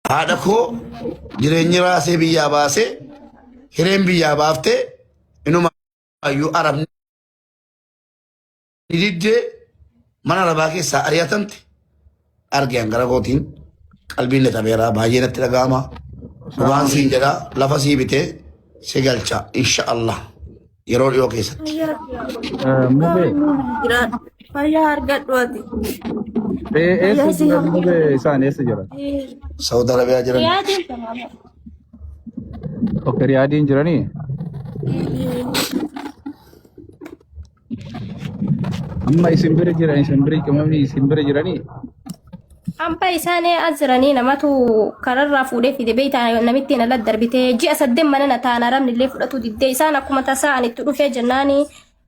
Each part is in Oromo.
Haadha koo jireenyi raasee biyyaa baasee hireen biyyaa baaftee inuma ayyuu arabni diddee mana arabaa keessaa ari'atamte argeen gara kootiin qalbiin na tabeeraa baay'ee natti dhaga'ama. Waan siin jedhaa lafa sii bitee si galcha insha Allah. yeroo dhiyoo keessatti. Eh, Mubee, Fayyaa argadhu ati. eh, eessa Fayyaa si jiran hamma. mubee isaan eessa jiran? Saudi Arabiyaa jiran Yaa jirta maama. Ok, Riyaadiin jiranii? Amma isin bira jiran, isin bira qimamni isin bira jiranii? Hambaa isaanii as jiranii namatu kararraa fuudhee fide beektaa namittiin ala darbitee ji'a saddeet mana na taana rabni illee fudhatu diddee isaan akkuma tasaa ani itti dhufee jennaani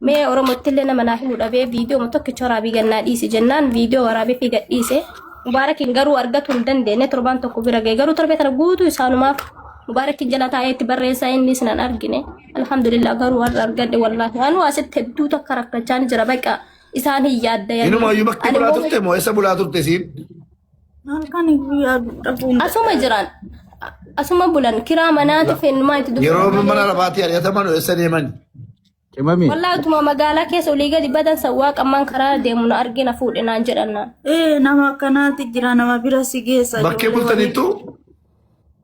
mee oromootti illee nama naa himu dhabee viidiyoo tokkicha waraabii gannaa dhiise jennaan viidiyoo waraabee fi gadhiise mubaarakiin garuu argatu hin dandeenye torbaan tokko bira ga'e garuu torbee kana guutuu isaanumaaf mubaarakiin jala taa'ee itti barreessaa inni isin hin argine alhamdulillah garuu warra argadhe wallaahi anuu asitti hedduu takka rakkachaa ni jira baqa Isaan hin yaaddayanii. Inuma iyyuu bakki Ani bulaa immoo turte moo eessa bulaa turte isiin? Halkan guyyaa dhabuun. Asuma jiran. Asuma bulan kiraa manaati fennumaa itti dubbatan. Yeroo malee. mana lafaatii ari'ataman eessa deemani? Qimamii. Wallaahi utuma magaalaa keessa olii gadi badan sawwaa qammaan karaa deemu na argina fuudhe naan jedhan naan. Ee nama akkanaatti jira nama bira si geessa. Bakkee ijoollee bultanittu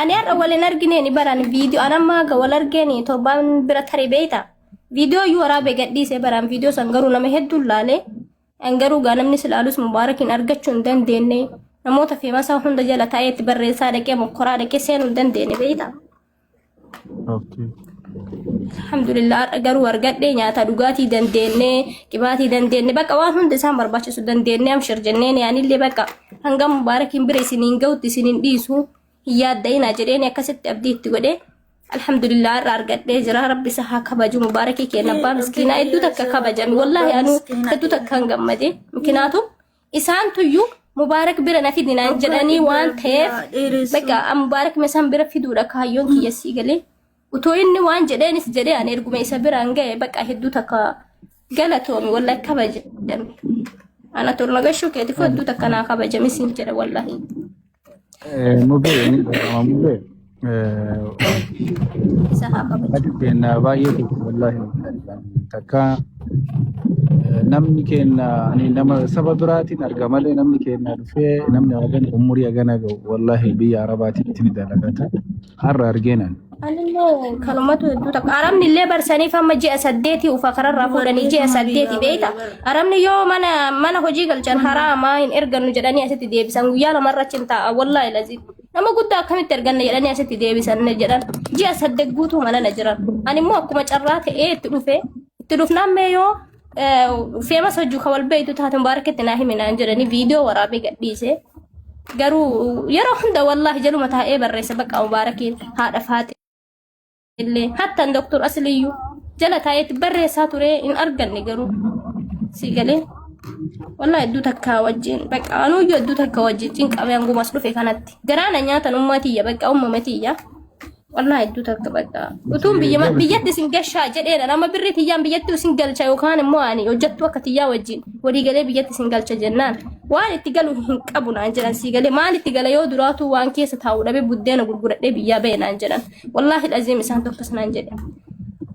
Ani har'a wal hin argineen baran viidiyoo an amma haga wal argeeni torbaan bira tare beeyta. Viidiyoo iyyuu waraabee gadhiisee baraan viidiyoo san garuu nama hedduun laalee an garuu gaa namni si laalus mubaarakiin argachuu hin dandeenye namoota feemasaa hunda jala taa'ee itti barreessaa dhaqee mokkoraa dhaqee seenuu hin dandeenye beeyta. Okay. Alhamdulillah har'a garuu argadhe nyaata dhugaatii dandeenne qibaatii dandeenne bakka waan hundi isaan barbaachisu dandeenne amshir jenneen yaanillee bakka hanga mubaarakiin bira isiniin ga'utti isiniin dhiisu hin yaadda'inaa jedheen akkasitti abdii itti godhe. Alhamdulillah har'a argadhee jira rabbi isa haa kabaju mubaarakii keenya abbaa miskiinaa hedduu takka kabajame wallaahi anuu hedduu takka hin gammade mikinaatum Isaan tuyyu Mubaarak bira na fidi naan jedhanii waan ta'eef bakka an Mubaarak isaan bira fiduudha kaayyoon kiyya sii galee. Utoo inni waan jedheenis jedhee ani erguma isa biraan ga'e bakka hedduu takka galatoomi wallahi kabajame. Ana tolna gashuu keetiif hedduu takka naa kabajame siin jedha wallahi. Eh, Mubee, ni dhaga'ama mubee. Eh, Isa haa kabaju. Ati keenya baay'ee tokko wallaahi takka eh, namni keenya ani nama saba biraatiin arga malee namni keenya dhufee namni hagan umurii hagana ga'u wallaahi biyya arabaatiin itti ni dalagata. Har'a argeen ani. Anillee kanumatu hedduu takka. Arabni illee barsaniif amma ji'a saddeetii ufa kararraa fuudhanii ji'a saddeeti beekta. Arabni yoo mana mana hojii galchan haraamaa hin ergannu jedhanii asitti deebisan guyyaa lamarra achi hin taa'a wallaahi laziim. Nama guddaa akkamitti erganna jedhanii asitti deebisan jedhan. Ji'a saddeet guutuu mana na jiran. Ani immoo akkuma carraa ta'ee itti dhufe. Itti dhufnaan mee yoo Feemas hojii kan wal beektu taate mubaaraketti naa himi naan jedhanii viidiyoo waraabee gadhiise. Garuu yeroo hunda wallaahi jaluma taa'ee barreessa bakka mubaarakiin haadha faate illee hattan doktor asiliyyuu jala taa'eetti barreessaa ture hin arganne garuu si galee. Wallaahi hedduu takkaa wajjin bakka anuuyyuu hedduu takka wajjin cinqamee hangumas dhufe kanatti. Garaana nyaatan ummaa tiyya bakka ummama tiyya. Wallah hedduu takka bakka. Utuun biyya biyyatti isin gashaa jedheedha. Nama birrii tiyyaan biyyatti isin galcha yookaan immoo ani hojjettuu akka tiyyaa wajjin walii galee biyyatti isin galcha jennaan. Waan itti galu hin qabu naan jedhan sii galee maal itti gala yoo duraatuu waan keessa taa'u dhabee buddeena gurguradhee biyyaa ba'e naan jedhan. Wallaahi dhaziim isaan tokkos naan jedhe.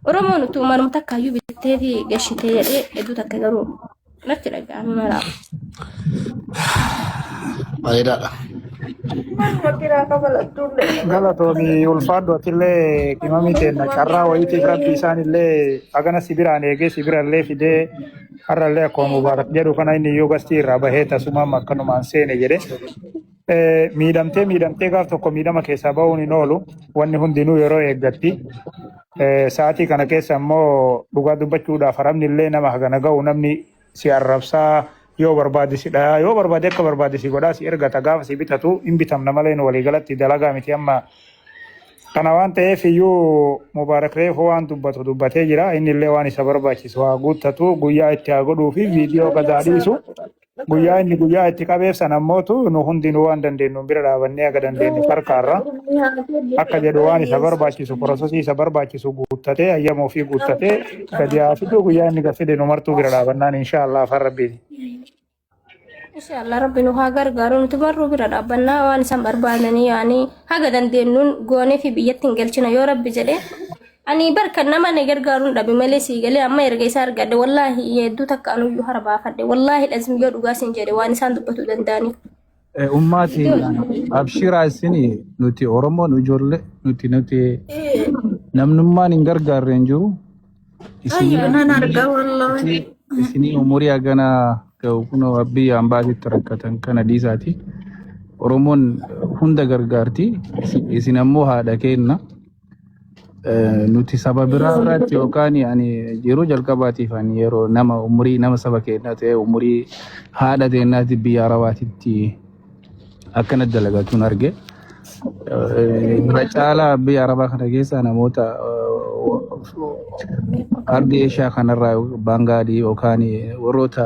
Oromoon utuu manuma takkaayyuu bittee fi gashitee jedhee hedduu takka garuu. natti dhaga'ame maraaf. Bareedaadha. Wakiraa kafalattuu illee. Galatoomi ulfaadhu atillee qimamii teenna carraa wayiitiif rabbi isaan illee hagana si biraan eegee si bira illee fidee har'a illee akkuma mubaarak jedhu kana inni iyyuu gastii irraa bahee tasumaan akkanumaan seene jedhe Eh, miidhamtee miidhamtee gaaf tokko miidhama keessaa ba'uun hin oolu wanni hundinuu yeroo eeggatti Eh, sa'aatii kana keessa immoo dhugaa dubbachuudhaaf haramni illee nama hagana ga'u namni si arrabsaa yoo barbaade si dhayaa yoo barbaade akka barbaade si godhaa si ergata gaafa si bitatu hin bitamna malee nu waliigalatti dalagaa miti amma kana waan ta'eef iyyuu mubaarak reefu waan dubbatu dubbatee jira inni illee waan isa barbaachisu haa guuttatu guyyaa itti haa godhuu fi viidiyoo gadaa dhiisu Guyyaa inni guyyaa itti qabeef sana immoo tu nu hundinuu waan dandeenyu bira dhaabannee akka dandeenye farkaarra akka jedhu waan isa barbaachisu porosesii isa barbaachisu guuttatee ayyama ofii guuttatee gadi haa fiduu guyyaa inni gaffide nu martuu bira dhaabannaan inshaa Allah afaan rabbiiti. Insha Allah rabbi nu haa gargaaru nuti barruu bira dhaabbannaa waan isaan barbaadanii yaanii haga dandeenyuun goonee fi biyyatti hin galchina yoo rabbi jedhee Ani bar kan nama na gargaaruun dhabe malee sii galee amma erga isaa argadhe wallaahi hedduu takka anuyyuu hara baafadhe wallaahi lazim yoo dhugaa siin jedhe waan isaan dubbatu danda'aniif. Eh, Ummaa teenya abshiraa isin nuti Oromoon ijoollee nuti nuti namnummaan hin gargaarre hin jiru. Isinii Ayyoo nan argaa wallaahi. isinii isinii umurii hagana ga'u kunoo abbii ambaasitti rakkatan kana dhiisaati. Oromoon hunda gargaarti. Isin isin ammoo haadha keenna. Eh, nuti saba biraa Yeroo irratti dubbatu yookaan ani yeroo jalqabaatiif ani yeroo nama umurii nama saba keenyaa ta'e umurii haadha teenyaatti biyya arabaatitti akkana dalagatuun arge. Eh, Irra caalaa biyya arabaa kana keessa namoota eh, ardii eeshiyaa kanarraa baangaadii yookaan warroota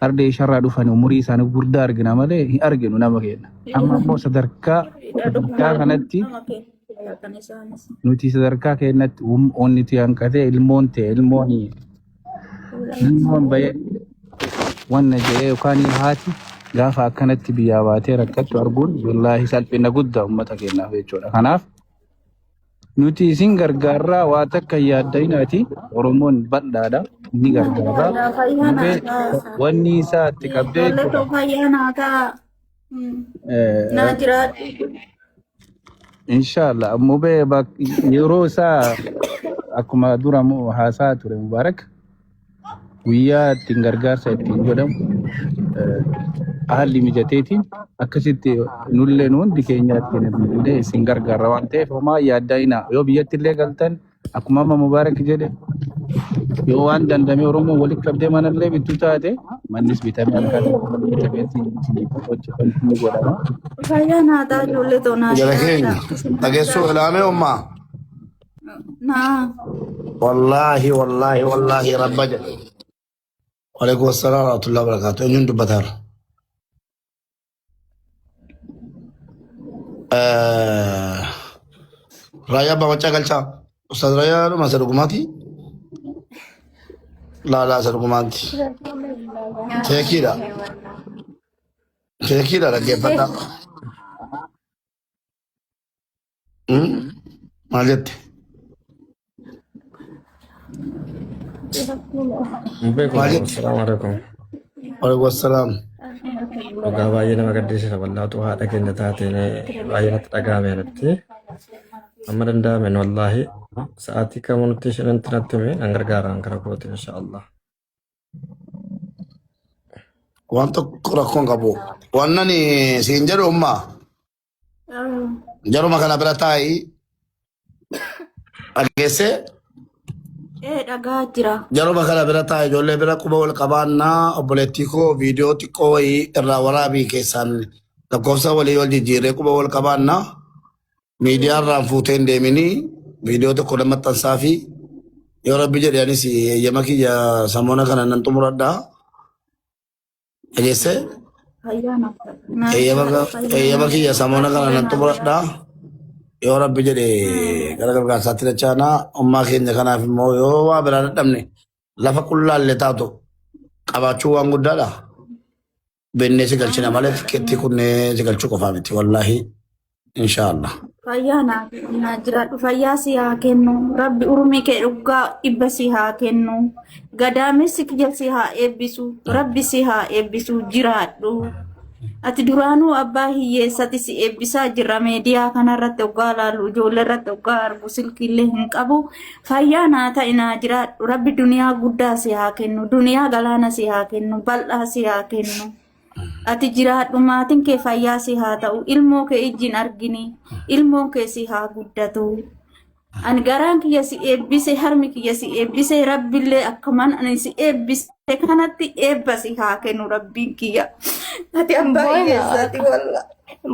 ardii eeshiyaarraa dhufan umurii isaanii guddaa argina malee hin arginu nama keenya. Amma immoo sadarkaa sadarkaa kanatti Kan isaanis. Nuti sadarkaa keenyatti um- onni ti hanqatee ilmoon ta'e ilmoon ilmoon bayee wanna jedhee yookaan haati gaafa akkanatti biyyaa baatee rakkattu arguun wallaahi salphina guddaa uummata keenyaaf jechuudha. Kanaaf nuti isin gargaarraa waa takka yaaddayinaati Oromoon bal'aadha ni gargaarraa. Fayyaa Dhufee naataa. wanni isaa itti qabdee Ijoollee jechuudha. too fayyaa naataa. Naa jiraadhu. Inshallah mubee bak- yeroo isaa akkuma dura mu- haasaa ture Mubaarak guyyaa ittiin gargaarsa ittiin godhamu eh, haalli mijateetiin akkasitti nullee nu hundi keenya ittiin illee isin gargaarra waan ta'eef homaa yaaddaa inaa yoo biyyatti illee galtan Akkuma amma Mubaarak jedhe yoo waan dandamee Oromoo walitti qabdee manallee bittu taate mannis bitamee harkaa tokko bitamee ittiin hojjetan ni godhama. Fayyaa naataa ijoollee too naa Jara jiraadha. keenya Isin naa dhageessuu jiraadha. ilaamee ummaa. Naa. Wallaahi wallaahi wallaahi rabba jedhe. Waalaikum assalam warahmatullahi wabarakatuh. Eenyuun dubbataara? Raayyaa abbaa maccaa galchaa. Ustaaz Raayyaa dhuma isa dhugumaati. Laalaa isa dhugumaatti. Keekiidha. Keekiidha dhaggeeffadhaa. Mm. Maal jette? Hin beeku. Maal jette? Salaamu alaikum. Waalaikum assalaam. Dhugaa baay'ee nama gaddisiisa wallaatu haadha keenya taateen baay'ee natti dhaga'ame natti. Amma danda'amen wallaahi sa'aatii kamuu nutti isheenitti natti hime nan gargaaraan gara kooti insha Allah. Waan tokko rakkoon qabu. Waan ani siin jedhu ummaa. Jaruma kana bira taa'i dhageesse Ee dhagaa jira. jaruma kana bira taa'i ijoollee bira quba wal qabaannaa obboleettii koo viidiyoo xiqqoo wayii irraa waraabii keessaan lakkoofsa walii wal jijjiirree quba wal qabaannaa miidiyaa irraan fuutee hin deeminii viidiyoo tokko nama maxxansaa fi yoo rabbi jedhe anis eeyyama kiyya samoona kana nan xumuradhaa. Dhageessee? Ayyaana. Eeyyama ga- eeyyama kiyya samoona kana nan xumuradha. Yoo rabbi jedhe gara gargaarsaatti dachaana ummaa keenya kanaaf immoo yoo waa biraa dadhabne lafa qullaallee taatu qabaachuu waan guddaadha. Beennee si galchina malee tikkeettii kunnee si galchuu qofaa miti wallaahi. insha Allah. Fayyaa naa naa jiraadhu fayyaa si haa kennu rabbi urmii kee dhugaa dhibba si haa kennu gadaamessi kiyya si haa eebbisu rabbi si haa eebbisu jiraadhu ati duraanuu abbaa hiyyeessati si eebbisaa jirra meediyaa kanarratti oggaa laalu ijoollee irratti oggaa argu silkiillee hin qabu fayyaa naa ta'i naa jiraadhu rabbi duniyaa guddaa si haa kennu duniyaa galaana si haa kennu bal'aa si haa kennu. Ati jiraadhu maatiin kee fayyaa si haa ta'u ilmoo kee ijjiin argini ilmoon kee si haa guddatu. Ani garaan kiyya si eebbise harmi kiyya si eebbise rabbillee akkuman ani si eebbise kanatti eebba si haa kennu rabbiin kiyya. Ati abbaa Booyna. hiyyeessaati walla.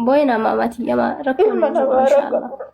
Booyna maama tiyya maa rakkoo Ilma hin jiru namaa inshallah. rakkoo.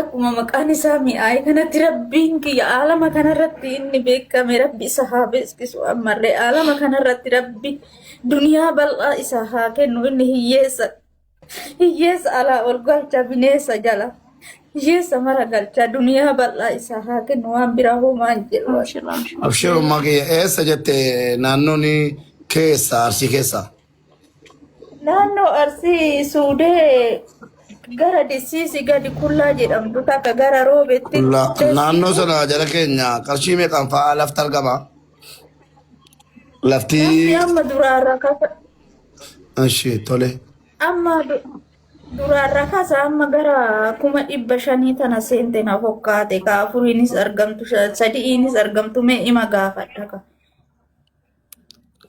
Akkuma maqaan isaa mi'aaye kanatti rabbiin kiyya aalama kanarratti inni beekame rabbi isa haa beeksisu ammallee aalama kanarratti rabbi duniyaa bal'aa isa haa kennu inni hiyyeessa hiyyeessa alaa ol galcha bineessa jala hiyyeessa mara galcha duniyaa bal'aa isa haa kennu waan biraa hoomaan jedhu. Abshirummaa kiyya eessa jette naannoon keessa arsii keessa. Naannoo Arsii Suudee gara Dissiisi gadi Kullaa jedhamtu takka gara Roobeetti La- Dessi Naannoo sana jala keenya qarshii meeqaan fa'aa lafti argama? Lafti Lafti amma duraarra kasa ishee tole. amma du- duraarra kasa amma gara kuma dhibba shanii tana seente na fokkaate ka afuriinis argamtu sha- sadi'iinis argamtu mee ima gaafadha ka.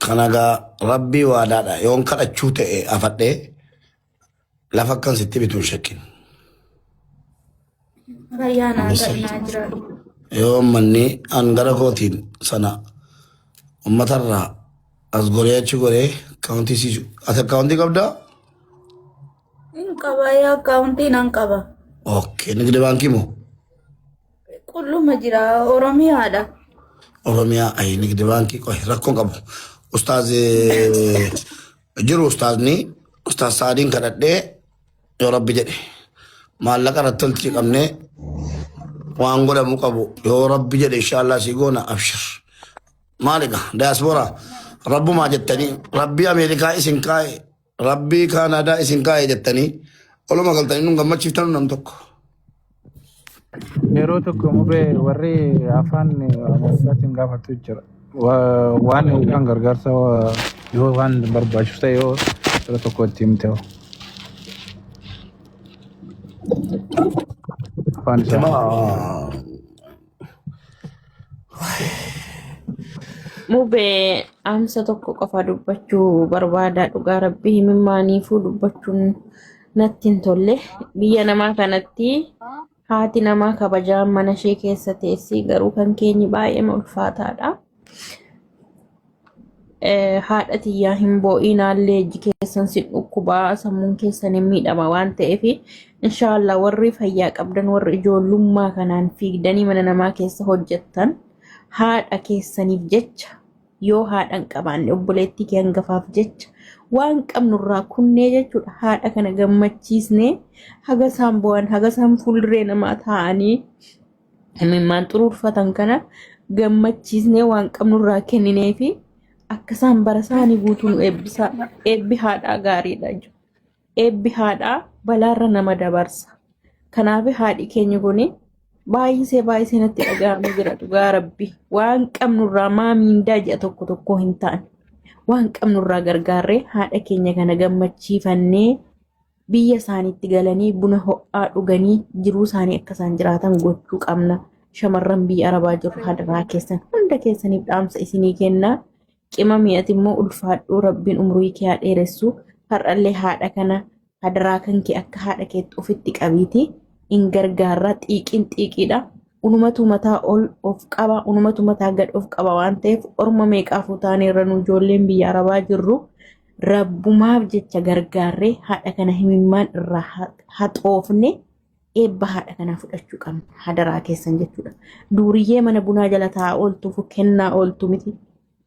Kanagaa rabbii waadaadha yoon kadhachuu ta'e afadhee lafa akkan sitti bitu hin shakkin. Fayyaa naa Misir. ta'inaa jira. Yoo manni an gara kootiin sana uummatarraa as goree achi goree kaawuntii si ati akkaawuntii qabdaa? Hin qaba yaa akkaawuntii nan qaba. Okkee nigdi baankii moo? Qulluma jira Oromiyaadha. Oromiyaa ayi nigdi baankii qohi rakkoon qabu. Ustaaz eh, jiru ustaazni ustaaz Saadiin kadhadhee yoo rabbi jedhe maallaqa irratti tolchii qabnee waan godhamu qabu yoo rabbi jedhe inshaallah sii goona abshir. Maaliga daaspooraa rabbumaa jettanii rabbii Ameerikaa isin kaa'e Rabbii kaan aadaa isin kaa'e jettanii oluma galtanii nun gammachiiftanu nam tokko. Yeroo tokko mubee warri afaan Amaarifaatiin gaafatu jira. Wa- Waan yookaan gargaarsa wa- yoo waan barbaachisu ta'e yoo yeroo tokko itti himte hoo afaan isaa. Jamaa Mubee amsa tokko qofa dubbachuu barbaada dhugaa rabbii himimmaaniifuu dubbachuun natti hin tolle biyya namaa kanatti haati namaa kabajaan mana ishee keessa teessi garuu kan keenyi baay'ee ulfaataadha. Eh, haadha tiyyaa hin boo'iinaallee ijji keessan sin dhukkubaa sammuun keessan hin miidhama waan ta'eef inshaallah warri fayyaa qabdan warri ijoollummaa kanaan fiigdanii mana namaa keessa hojjettan haadha keessaniif jecha yoo haadha hin qabaanne obboleettii kee hangafaaf jecha waan qabnurraa kunnee jechuudha haadha kana gammachiisnee haga isaan bu'an haga isaan fuulduree namaa taa'anii Imimmaan xuruurfatan kana gammachiisnee waan qabnu irraa kenninee fi akka isaan bara isaanii guutuu nu eebbisaa. Eebbi haadhaa gaariidha. ija. Eebbi haadhaa balaarra nama dabarsa. Kanaaf haadhi keenya kun baay'isee baay'isee natti dhaga'amee jira dhugaa rabbi. Waan qabnu irraa maa miindaa ji'a tokko tokko hin taane. Waan qabnu irraa gargaarree haadha keenya kana gammachiifannee biyya isaaniitti galanii buna ho'aa dhuganii jiruu isaanii akka isaan jiraatan gochuu qabna. Shamarran biyya arabaa jirru hadaraa keessan hunda keessaniif dhaamsa isinii kennaa. Qima mi'ati immoo ulfaadhuu rabbiin umurii kee haa dheeressu. Har'allee haadha kana hadaraa kan kee akka haadha keetti ofitti qabiiti. In gargaarraa xiiqiin xiiqiidha. Unumatu mataa ol of qaba, unumatu mataa gad of qaba waan ta'eef orma meeqaafuu taanee irra nu ijoolleen biyya arabaa jirru. Rabbumaaf jecha gargaarree haadha kana himimmaan irraa ha- haxoofne eebba haadha kanaa fudhachuu qabna. Hadaraa keessan jechuudha. Duuriyyee mana bunaa jala taa'aa ooltuuf kennaa ooltu miti.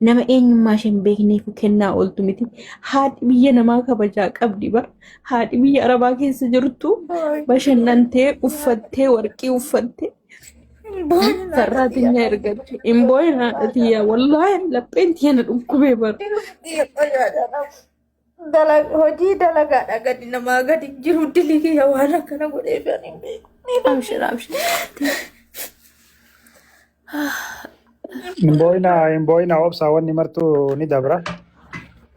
Nama eenyummaa ishee hin beekneef kennaa ooltu miti. Haati biyya namaa kabajaa qabdi bar. Haati biyya arabaa keessa jirtu bashannantee uffattee warqii uffattee Sarraattiin yaa ergatti. Hin boo'in haadha tiyyaa. Wallaahi lapheen tiyya na dhukkubee bara. Hojii dalagaadha gadi namaa gadi jiru dilii yaa waan akkana godhee kan hin beeku. Abshir abshir. Hin boo'ina hin boo'ina obsaa wanni martuu ni dabra.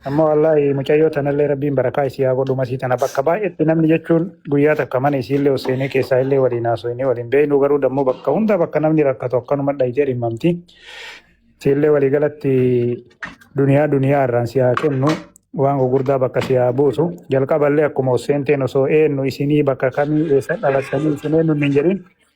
Ammoo wallaahi mucayyoo tanallee rabbiin barakaa isii haa godhu masii tana bakka baay'eetti namni jechuun guyyaa takka mana isiillee ol seenee keessaa illee waliin haasofnee waliin beeknu garuu dammoo bakka hunda bakka namni rakkatu akkanuma dhayitee dhimmamti. Siillee walii galatti duniyaa duniyaa irraan si haa kennu waan gurguddaa bakka si haa buusu. Jalqaballee akkuma ol seenteen osoo eenyu isinii bakka kamii eessa dhalattanii isin eenyu hin jedhin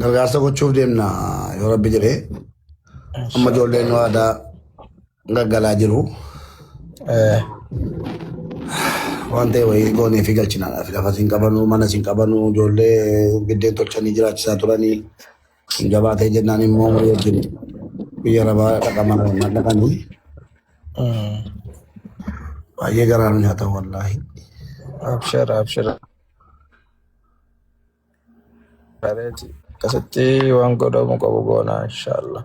Gargaarsa gochuuf deemna yoo rabbi jedhee amma ijoolleen nu aadaa gaggalaa jiru. Eh, Waan ta'e wayii goonee fi galchinaadhaaf lafa siin qabanuu mana siin qabanuu ijoollee biddeen tolchanii jiraachisaa turanii jabaatee jennaan immoo walii wajjin biyya rabaa dhaqamaa dhaqanii mm. baay'ee garaa nu nyaata wallaahi. Abshir, abshir. Gareeti. Akkasitti waan godhamu qabu goona inshaallah.